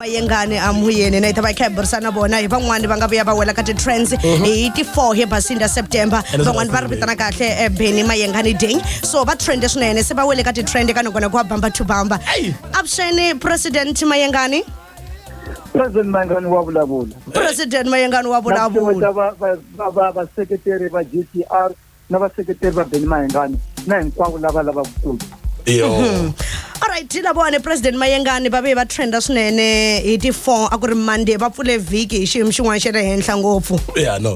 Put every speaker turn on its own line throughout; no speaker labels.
vayengani a muyeni na yi ta va yi kha hi burisana na vona hi van'wani va nga vuya va wela ka ti-trends mhm. hi ti-four hi basini ya september van'wani va ri vitana kahle eh, beni mayengani ding so va trende swinene se va wele ka ti-trend ka nakona ku wa bamba to bamba avuxeni president mayengani
president mayengani wa vulavula president mayengani
wa vulavula
vaseketeri va g t r na vaseketeri va beni mahengani na hinkwavo lava
lavaka ku yo mhm. alright hi lavone president mayengani va ve va trenda swinene hi ti-four a ku ri monday va pfule vhiki hi xiyimo xin'wana xa le henhla ngopfu ya no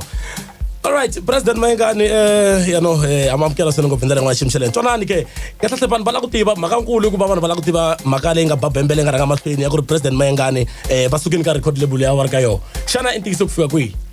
alright president mayengani um eh, yano um eh, amamukela swinene ngopfu hi ndlela yin'wana xiyimo xa le ntwanani ke kahlekahle vanhu va lava ku tiva mhaka nkulu hikuva vanhu va lava ku tiva mhaka leyi nga ba bembe leyi nga rhanga mahlweni ya ku ri president mayengani um eh, va sukeni ka record label ya va ri ka yona xana i ntiyiso ku fika kwihi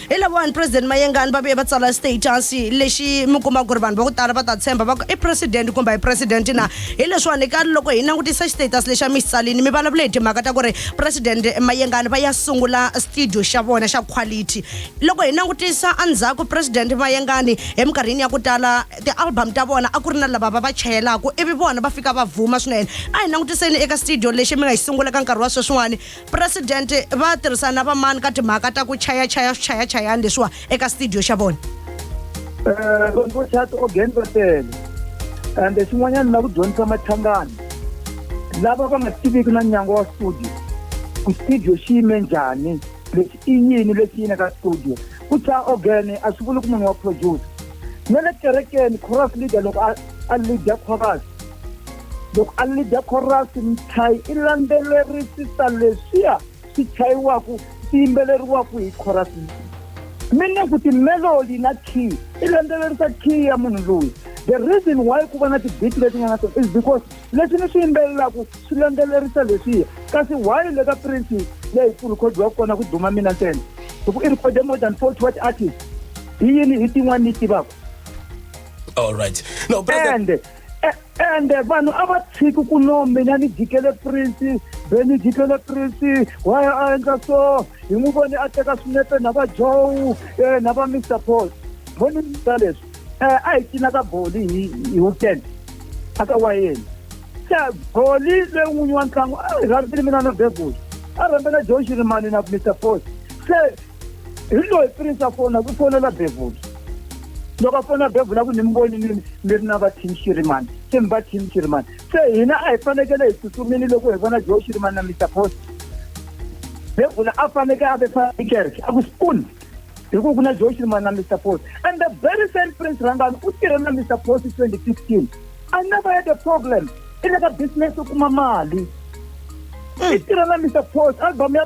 hi lavawani president mayengani va vuye va tsala status lexi mi kuma ku ri vanhu va ku tala va ta tshemba va ku i president kumbe hi president na hi leswiwani ka loko hi langutisa status lexi a mi xi tsalini mi vulavule hi timhaka ta ku ri president mayengani va ya sungula studio xa vona xa quality loko hi langutisa endzhaku president mayengani eminkarhini ya ku tala ti-album ta vona a ku ri na lava va va chayelaka ivi vona va fika va vuma swinene a hi langutiseni eka studio lexi mi nga yi sungula ka nkarhi wa sweswiwani presidente va tirhisana na vamani ka timhaka ta ku chayachaya swichayachayani leswiwa eka studio xa vona eh,
vanhu vo chaya ti-organ va tele and xin'wanyana na ku dyondzisa machangana lava va nga tiviki na nyango wa studio ku studio xi yime njhani lexi i yini lexi yini ka studio ku tsha ogene a swi vuli ku munhu wa producer na le kerekeni chorus leader loko a leader chorus loko a ni dya khorasi ni chayi i landzelerisisa leswiya swi chayiwaka swi yimbeleriwaka hi khorasi meaning ku timelody na key i landzelerisa key ya munhu loyi the reason why ku va na tibit leti nga na tona is because leswi ni swi yimbelelaka swi landzelerisa leswiya kasi why le ka prince leyi ku rhikhodiwa kona ku duma mina ntsena hi ku i rhikhode more than forty what artist hi yini hi tin'wana ni yi tivaka
all right no president ende
vanhu a va tshiki ku no mina ni jikele prince be ni jikele prince wa ya a endla so hi n'wi voni a teka swinepe na va joe eh, na va mr paul voni ta leswi eh, a hi cina ka boli hi hi weekend a ka wayeni se boli leyi n'winyi wa ntlangu a hi rhambile mina na bebuli a rhambela joe xirimani na mr paul se hi loyi prince a fona ku fonela bevula loko a fona bevula ku ni mi voni ni mi ri na va team shirimani se mi va team shirimani se hina a hi fanekele hi tsutsumini loko hi vona joe shirimani na mr post bevula a faneke a ve fani kereke a ku spoon hi ku ku na joe shirimani na mr post and the very same prince rangani u tirhe na mr post 2015 i never had a problem i le ka business u kuma mali i tirha na mr post album ya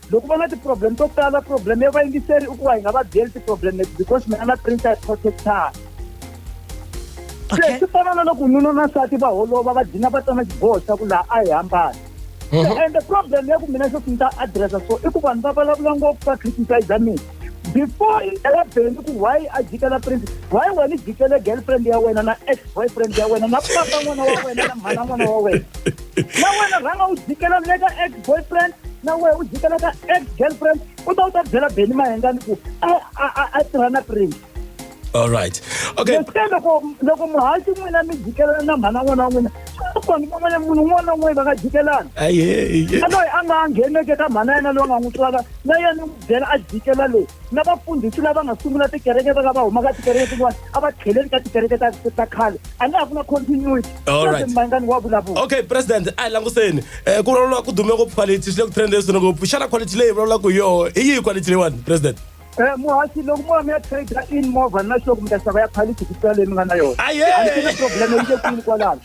loko va na ti-problem to tala problem ya vayingiseri i ku va hi nga va byeli ti-problem leti because mina na prince ya protectara se swi fana na loko nuna na nsati va holova va dina va tsana xiboho xa ku laha a hi hambani mhm. and the problem ya ku mina xo swi ni ta addressa so i ku vanhu va vulavula ngopfu va criticize mina before i tela beni ku why a jikela prince why nga ni jikela girlfriend ya wena na ex boyfriend ya wena na papa n'wana wa wena na mhana n'wana wa wena na wena rhanga u jikela le ka ex boyfriend na wena u jikela ka ex girlfriend u ta u ta byela beni mahengani ku a a a tirha na prince all right
okay loko loko
muhaxi n'wina mi jikelana na mhana n'wana wa n'wina kona van'wana munhu un'wana na un'wana va nga jikelana a loyi a nga ngheneke ka mhana yena loyi a nga n'wi twaka na yena n'wi byela a jikela loyi na vafundhisi lava nga sungula tikereke va ka va humaka tikereke tin'wana a va tlheleli ka tikereke ta ta khale a nga ha ku na continuity mangani wa vulavula okay president a hi
languseni um ku vulavuriwa ku dume ngopfu quality swi le ku trend leswi ngopfu xana quality leyi vulavulaka hi yoho hi yihi quality leyiwani president Eh, muhasi loko
mo va mi ya trade in movha na sure ku mi ta xava ya quality ku tlula leyi mi nga na yona Aye! a ni tivi problem yi le kwini kwalano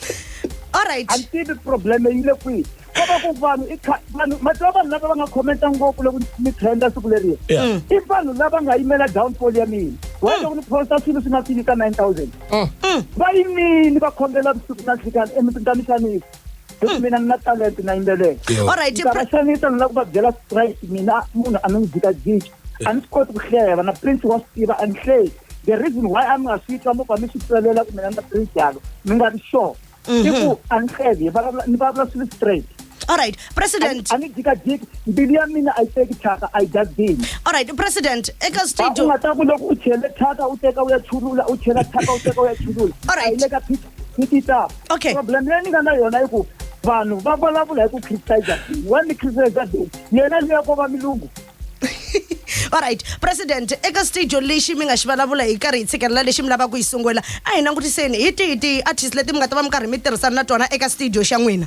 alright
a ni tivi problem
yi le kwini ko va ku vanhu i kha- vanhu mativa vanhu lava va nga commenta ngopfu loko mi trenda siku leriya Yeah. i vanhu lava nga yimela downfall ya mina wa loko ni posta swilo swi nga fini ka 9000 va yimini va khongela vusiku na nhlikani emitini ta mixanisi because mina ni na talent na yimbelela Yo. All right, ndza va Pri- xanisa
ni lava ku va
byela straight mina munhu a mi ni jikajiki a ni swi koti ku hleva na prince wa swi tiva a ni hleli the reason why a mi nga swi twa mova mi swi tselela ku mina na prince yalo mi nga ri sure i ku a ni hleli hi vulavula- ni vulavula swilo straight all right
president a ni jikajiki
mbilu ya mina a yi teki thyaka a yi jazini all right president
eka u studio nga ta ku
loko
u chele
thyaka u teka u ya chulula u chela thyaka u teka u ya chulula All right. a yi le ka pitch ni tita okay problem leyi
ni nga na yona
i ku vanhu va vulavula hi ku criticize wa ni criticize deni yena leya ko va milungu
alright president eka studio lexi mi nga xi vulavula hi karhi hi tshikelela lexi mi lavaka ku yi sungula a hi langutiseni hi tihi tihi artist leti mi nga ta va mi karhi mi tirhisana na tona eka studio xa n'wina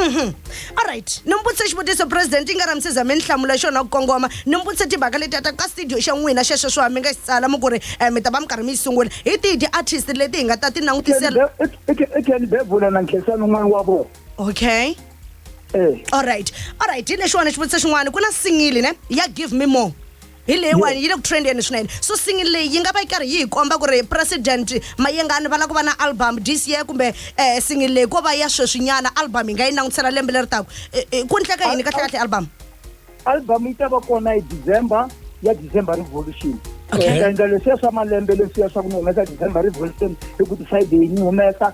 Mhm.
alright ni mi vutise xivutiso president i nga ramisi za mi ni hlamula xona ku kongoma ni mi vutise timhaka leti ata ka studio xa n'wina xexo swa mi nga xi tsala mi ku ri um mi ta va mi karhi mi yi sungula hi tihi ti-artist leti hi nga ta ti langutisela i ken
bebula na nkhesani un'wana wa vona okay e
alright alright hi lexiwani xivutiso xin'wana ku na singili ne ya give me more hi leyiwani yi le ku trendeni swinene so single leyi yi nga va yi karhi yi hi komba ku ri president mayengani va lava ku va na album this year kumbe um single leyi ko va ya sweswinyana album hi nga yi langutisela lembe leri taku eh, eh, ku ndleka yini kahle kahle album album
yi ta va kona hi december ya december revolution ta endla leswiya swa malembe leswiya swa ku ni humesa december revolution hi ku ti-friday yi ni humesa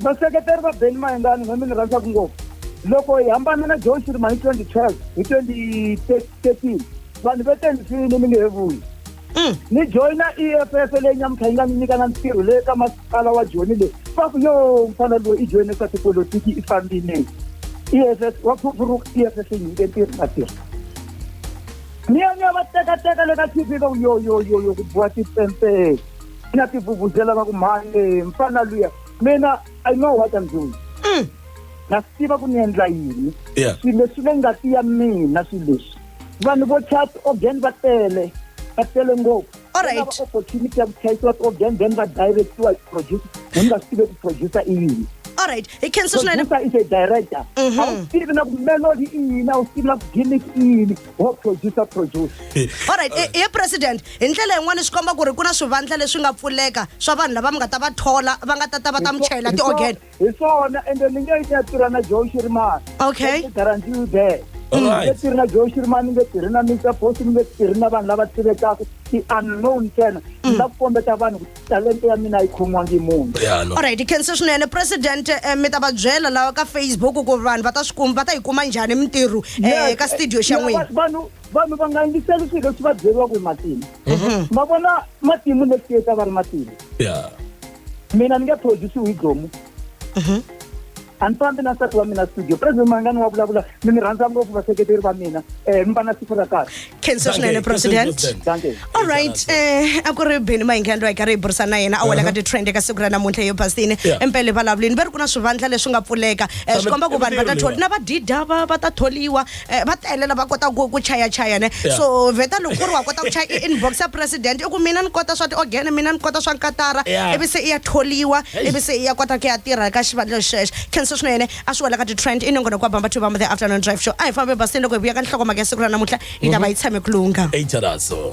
Vaseketeri va
Benny Mayengani na mina rhandzaka ngopfu loko hi hambana na John Shirima hi 2012 hi 2013 vanhu va te ni file ni nge he vuyi mm. ni joyina EFF leyi nyamutlha yi nga ni nyika na ntirho leyi ka masipala wa Joni leyi va ku yo mfana loyi i joyine swa tipolotiki i fambile EFF wa phuphuruka EFF yi nyike ntirho na tirho ni ya ni ya va tekateka le ka TV va ku yo yo yo yo ku biwa tipempele na tivuvuzela va ku mhani mfana luya mina i know what i'm doing mm. na swi tiva ku ni endla yini swilo leswi le ngati ya mina swilo leswi vanhu vo chat organ va tele va tele ngopfu alright
opportunity ya ku chayisiwa
ti-organ then va directiwa hi producer ni nga swi tive ku producer i yini alright hi khensa
swinene producer is a director
mhm. a wu tivi na ku melody i yini a wu tivi na ku gimmick i yini wo producer produce all
right eh, eh president hi ndlela yin'wana swi komba ku ri ku na swivandla leswi nga pfuleka swa vanhu lava mi nga ta va thola va nga ta ta va ta mi chayela ti-organ hi swona ende
ni nge ni ya tirha na joe shirimani okay garantiwe
there
ni nge tirhi na
joe shirimani
ni nge tirhi na mr post ni nge tirhi na vanhu lava tivekaka ti-unknown ntsena ni mm. la ku kombeta vanhu ku talenta ya mina a yi khomiwangi hi munhu ya no alright khense
swinene president eh, mi ta va byela lawa ka facebook ku vanhu va ta swi kuma va ta yi kuma njhani mintirho eh, ka studio xa Ya, n'wina va- vanhu vanhu va nga
yingiseli swilo leswi va byeriwaka hi matimu ma vona matimu next year ta va ri matimu ya mina ni nge produce hi dlomu a ni fambi na nsati wa mina studio president mangani wa vulavula mi ni rhandza ngopfu vaseketeri va mina um mi va na siku ra kahle khensa swinene
president all right um a ku ri beni mahingani loyi hi karhi hi burisana na yena a wela ka uh-huh. ti-trend eka siku ra namuntlha yo basini empele vulavulini va ri ku na swivandla leswi nga pfuleka um swi komba ku vanhu va ta tholi na vadida va va ta tholiwa Eh, va tele lava kotaka ku- ku chaya chaya ne Yeah. so vheta loko ku ri wa kota ku chaya i- inbox ya president i ku mina ni kota swa ti-organ mina ni kota swa nkatara Yeah. ivi se i ya tholiwa Hey. ivi se i ya kota ku ya tirha ka xivandla xexo khensa swinene a swi wela ka ti-trend i nongona ku abamba to bamba the afternoon drive show a hi fambe basini loko hi vuya ka
nhlokomhaka
ya siku ra namuntlha yi ta va yi tshame ku lungha eight araso